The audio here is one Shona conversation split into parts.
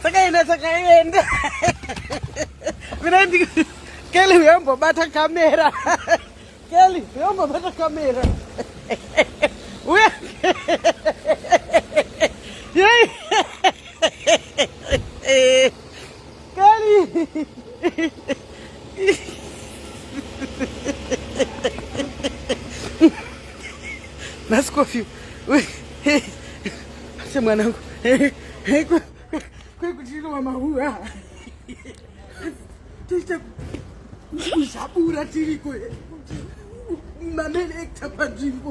tsakaenda tsakaenda mina ndii Kelly uyombobata kamera Kelly uyombobata kamera uya nasikofi ase mwanangu kwekuti inowa mahuwa toita kuzhabura tiriko mamelekta panzvimbo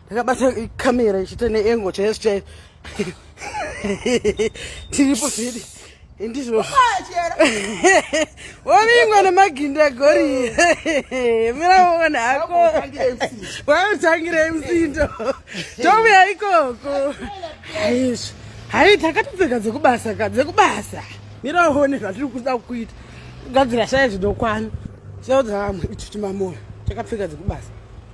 ndakabata camera ichiita neengo chaiyo chaiyo tiripo zvidi ndizvo wavingwa nemaginda gori miraona hako waotangira msindo tomuya ikoko haizvo hai takatopfeka dzekubasa ka dzekubasa miraone zvatiri kuda kuita kugadzira shaya zvinokwana chaudza vamwe ichuchimamoyo takapfeka dzekubasa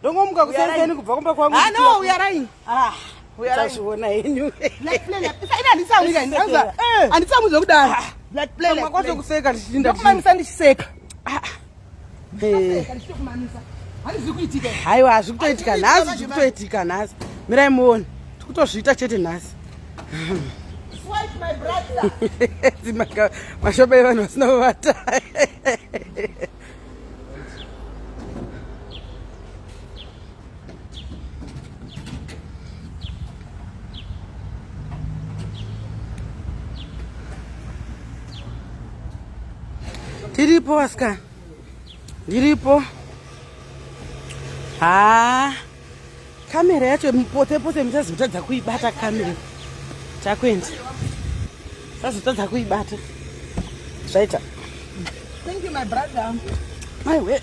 ndongomuka kusenzeni kubva kumba kwangu ah, no we are lying ah uchazviona henyu black plan ina anditsamwi kani anza eh. anditsamwi zvokudaro ah. black plan mama kwazo kuseka ndichinda kumamisa ndichiseka ah. eh. haiwa hazvi kutoitika nhasi zvi kutoitika nhasi mirai muone tikutozviita chete nhasi mashoba evanhu vasina kuvata Diripo, Oscar. Diripo. Ah. Kamera yacho pote pote muchazotadza kuibata kamera. Takwenda. Sazotadza kuibata. Zvaita. Thank you my brother. My way.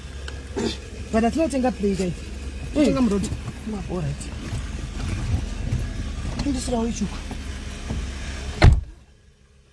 But I think I play there. I think I'm road. All right. Ndisira wechuka.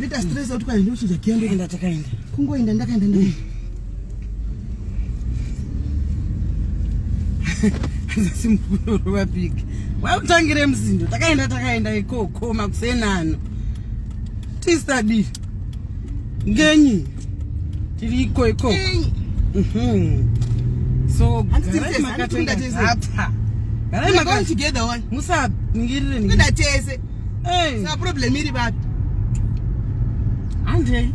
Rita stress out kwani ndochinja kia ndoenda takaenda. Kungoenda ndakaenda ndakaenda. Simukuru vapiki. Wakutangire msindo takaenda takaenda ikoko makusenano. Tistadi. Ngenyi. Tiri iko iko. Mhm. So, garai makatenda hapa. Garai makatenda. Musa ngirire. Ndatese. Hey. Sa problem iri vapi? Andei.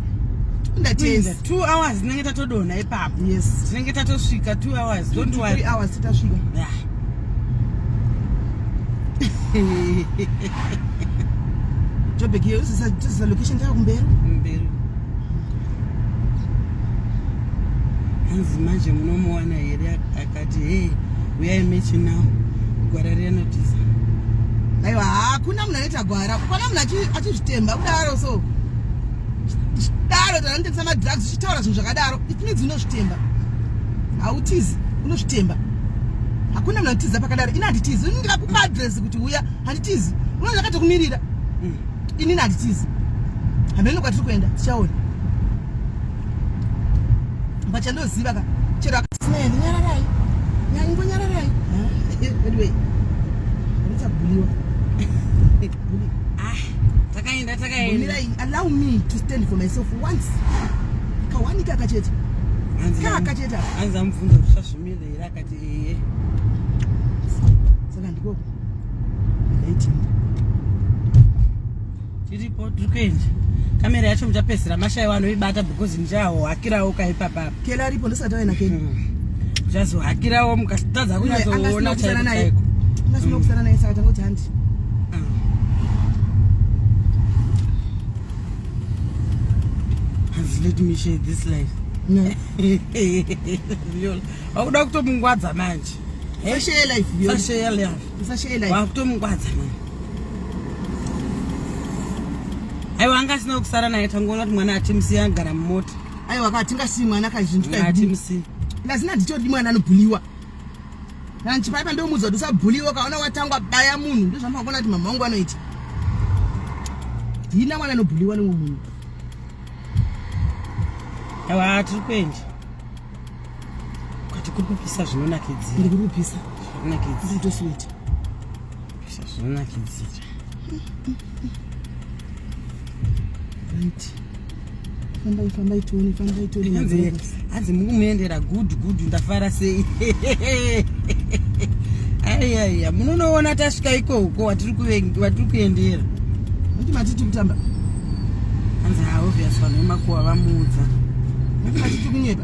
Ndatenda. 2 hours tinenge tatodona ipapo. Yes. Tinenge tatosvika 2 hours. Two, Don't two, worry. 3 hours titasvika. Yeah. Jobek hiyo sasa sasa location yako Mberu. Mberu. Hanzi manje munomuona here Ati hey, uyai mechi now. Gwara riya notiza. Aiwa, hakuna munhu anoita gwara. Hakuna munhu achizvitemba kudaro so. Daro tanotengesa madrugs uchitaura zvinhu zvakadaro. It means unozvitemba. Hautizi, unozvitemba. Hakuna munhu anotiza pakadaro. Ini handitizi. Ini ndikakupa address kuti uya, handitizi. Unoona zvakatokumirira. Mm. Ini handitizi. Hameno kwatiri kuenda, tichaona. vachandoziva ka chero akasinaendi nyararai nyango nyararai anyway ndichabuliwa ah, takaenda takaenda allow me to stand for myself once kawani kaka chete kaka chete hanzi amubvunza kuti zvazvimira here akati eye saka ndikoko ndaitinda tiripo tiri kuenda kamera yacho muchapedzisira mashaiwa anoibata because ndichahohakirawo kaipapa apa kela aripo ndisati aina kela hmm. muchazohakirawo mukatadza kunyazoona chaiko chaiko ungasina hmm. kusana naye saka tangoti handi has let me share this life wakuda kutomungwadza manje sashare life sashare life sashare life wakutomungwadza manje aiwa anga asina kusara naye tangoona kuti mwana atimusiya agara mumota aiwa ka tingasiyi mwana kazvintuatimusiya lazina nditodi mwana anobhuliwa nanchipaipa ndomuudza kuti usabhuliwa kaona watangwa baya munhu ndozvamakaona kuti mama wangu anoita hina mwana anobhuliwa nemwe munhu awa tiri kuenda kati kuri kupisa zvinonakidzira ndikuri kupisa zvinonakidzira nditosiweta Zvinonakidzira. Right. Fambai fambai tione fambai tione. Hanzi hanzi mukumuendera good good ndafara sei. Aiya aiya munonoona tasvika iko uko watiri kuvengi watiri kuendera. Kuti matiti kutamba. Hanzi ha obvious vanhu vemakuwa vamuudza. Kuti matiti kunyepa.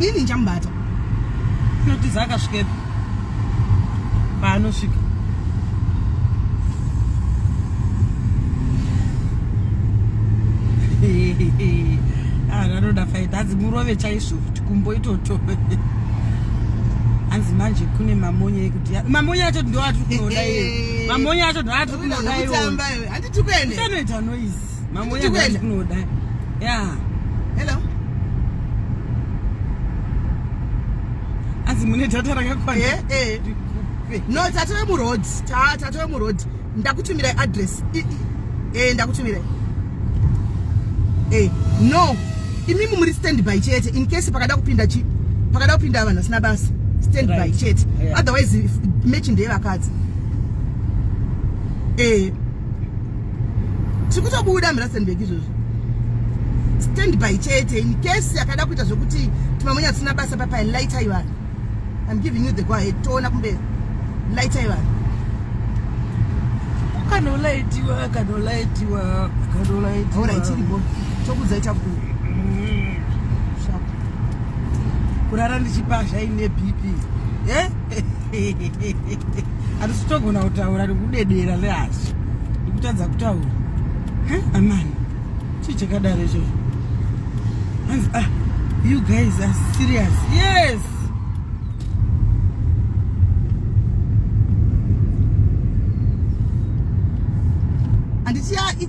ini nchamubata inotiza akasvikepi paanosvika anoda faita hanzi murove chaizvo kuti kumbo itoto hanzi manje kune mamonya ekuti mamonya acho ndoatiri kunoda iye mamonya acho ndoatiri kunoda iye handiti kuene anoita noise Mambo ya ndani kuno dai. Yeah. Hello. Azi mune data rakakwana. Eh eh. No, tatove mu road. Ta tatove mu road. Ndakutumira address. Eh ndakutumira. Eh no. Imi muri standby chete in case pakada kupinda chi pakada kupinda vanhu vasina basa. Standby right. chete. Yeah. Otherwise match ndeye vakadzi. Eh tiri kutobuda mirasenbek izvozvo stand by chete in case yakada kuita zvekuti timamonya tisina basa papa lightai vanhu im giving you the go ahead toona kumbe lightai vanhu akanolaitiwa akanolaitiwa akanolaitiwa ora ichiripo tokudza ita ku mm. kurara ndichipa zvaine bp eh? Hatisi kutogona kutaura nekudedera lehasi. Ndikutadza kutaura. Huh? Amani. Chii chakadaro ichocho? Hanzi ah you guys are serious. Yes. And it's yeah, it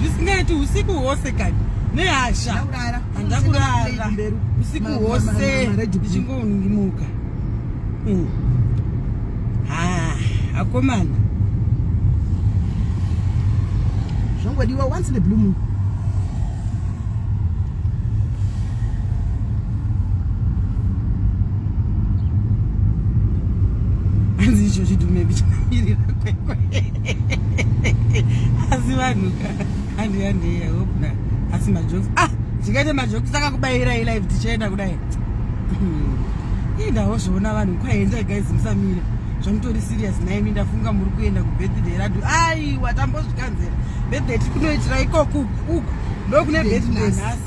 zvisingaiti usiku hwose kani nehasha handakurara usiku hwose ndichingomuka hmm. ah, akomana zvongodiwa once in a blue moon hanzi icho chidume bichamirira kwekwe asi vanhu andiyandiya hopna asi majoks ah ndikaita majoks akakubayirai live tichaenda kudai indawo zvoona vanhu kwaendai guys musamire zvamutori serious naimi ndafunga muri kuenda kubirthday radu aiwa tambozvikanzera birthday tiri kunoitira ikoko uku uku ndokune birthday nhasi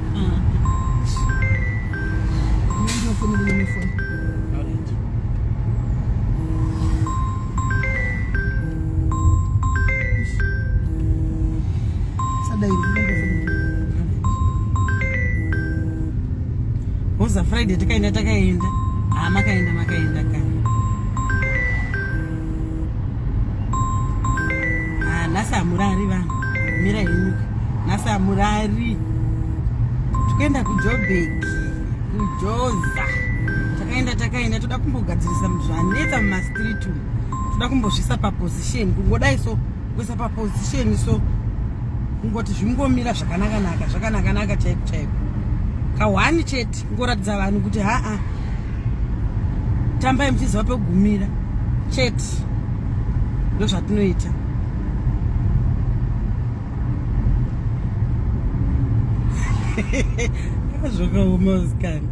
Hoza Friday takaenda takaenda. Ah, makaenda makaenda kani. Ah, nhasi hamurari vanhu mira yenyuka nhasi hamurari tikuenda kujobeki kujoza takaenda takaenda toda kumbogadzirisa zvanetsa mumastreet umu toda kumbozvisa paposition kungodai so kuisa paposition so kungoti zvingomira zvakanakanaka zvakanakanaka chaiko chaiko kahwani chete ngoratidza vanhu kuti haa tambai muchiziva pekugumira chete ndozvatinoita zvakaoma usikana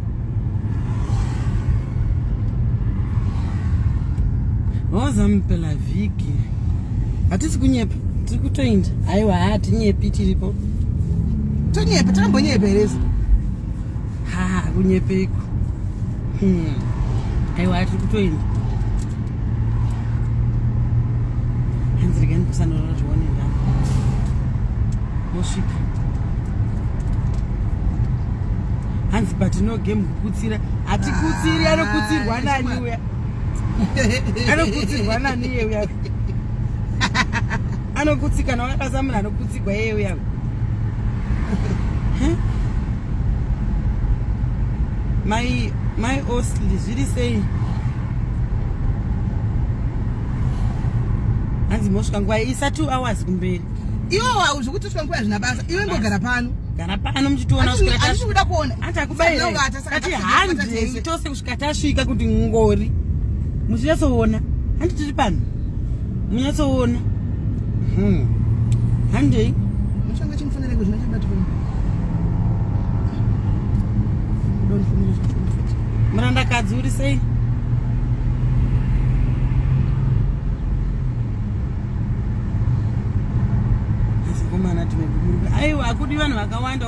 wazamu pela vhiki hatisi kunyepa tiri kutoinda aiwa hatinyepi tiripo tonyepa tambonyepa herezi ha kunyepeiko hmm. aiwa atiri kutoenda hanzi rega ndikusanora zvione nda mosvika hanzi but no game kukutsira hatikutsiri anokutsirwa nani uya anokutsirwa nani uya anokutsika nawe akasamuna anokutsira mai mai osli zviri sei hanzi mosvika nguva isa two hours kumberi iwe wau zvekuti usvika nguva zvina basa iwe ngogara pano gara pano muchitiona kuda kuona anti akubaira saka tihandei tose kusvika tasvika kuti ngori muchinyatsoona handi tiri pano munyatsoona hmm. handei muchanga chimufanira kuzvina chabatwa murandakadzi uri sei aiwa akudi vanhu vakawanda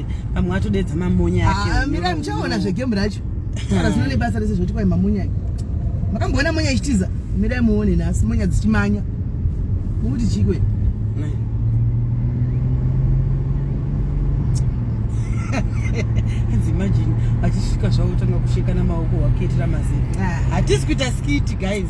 pamwe atodeedza mamonya ake ah, mira muchaona zvegemu racho kana zino nebasa rese zvoti kwai mamonya ake makamboona monya ichitiza mirai muone nhasi monya dzichimanya mukuti chikwe imagine vachisvika zvavo tanga kushekana maoko wakuitira mazera ah. hatisi kuita skiti guys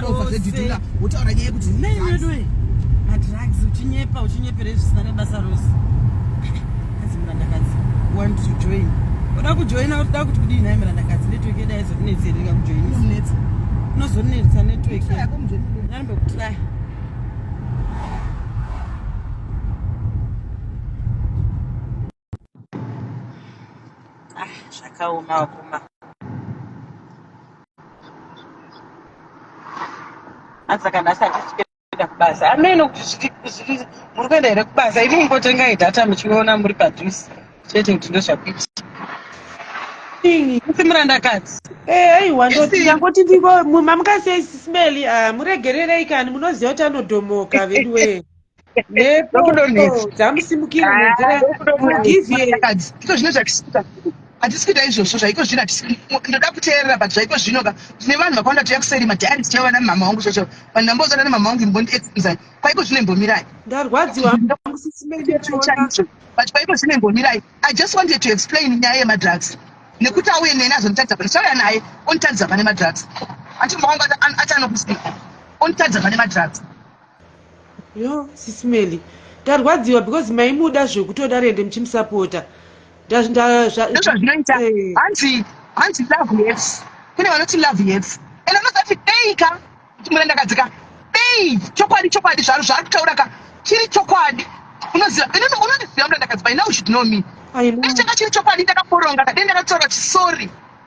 Ndova zvedhidhira wotaura nyaya yekuti nei weduwe madrugs uchinyepa uchinyepera zvisina nebasa rose kanzi murandakadzi want to join oda kujoina otoda kuti kudii nhai murandakadzi network yeda yaizonetsi here rika kujoina inonetsa unozonetsa network yanombe kutraya Ah, zvakaoma vakoma. Hanzi kana asati tichikuenda kubasa. Ameno kuti zviri- zviri- muri kuenda here kubasa? Imi mungotengai data muchiona muri padhuze. Chete kuti ndozvakuita. Ii, Musi murandakadzi. Eh, aiwa ndoti Isi. ndangoti ndiko mama mukasei sismeli ah, muregererei kani munoziva kuti anodhomoka veduwee. ndiko zvine zvakisika hatisi kuita izvozvo zvaiko zvino ndoda kuteerera but zvaiko zvino ka tine vanhu vakawanda tuya kuseri madiary tichava na mama wangu zvocho vanhu ndambozana na mama wangu imbondi examzai kwaiko zvino imbomirai ndarwadziwa but kwaiko zvino imbomirai i just wanted to explain nyaya yemadrugs nekuti auye neni azonditadza pane chauya naye onditadza pane madrugs achimbowangu achanokusika onditadza pane madrugs yo sisi meli ndarwadziwa because maimuda zvekutoda rende muchimusapota ndazvazvinoita eh. hanzi hanzi love yes kune vanoti love yes and anozati dei ka murandakadzi ka dei chokwadi chokwadi zvaro zvaari kutaura ka chiri chokwadi unoziva inini unondiziva murandakadzi by now should know me dei changa chiri chokwadi ndakaporonga ka dei ndakataura chisori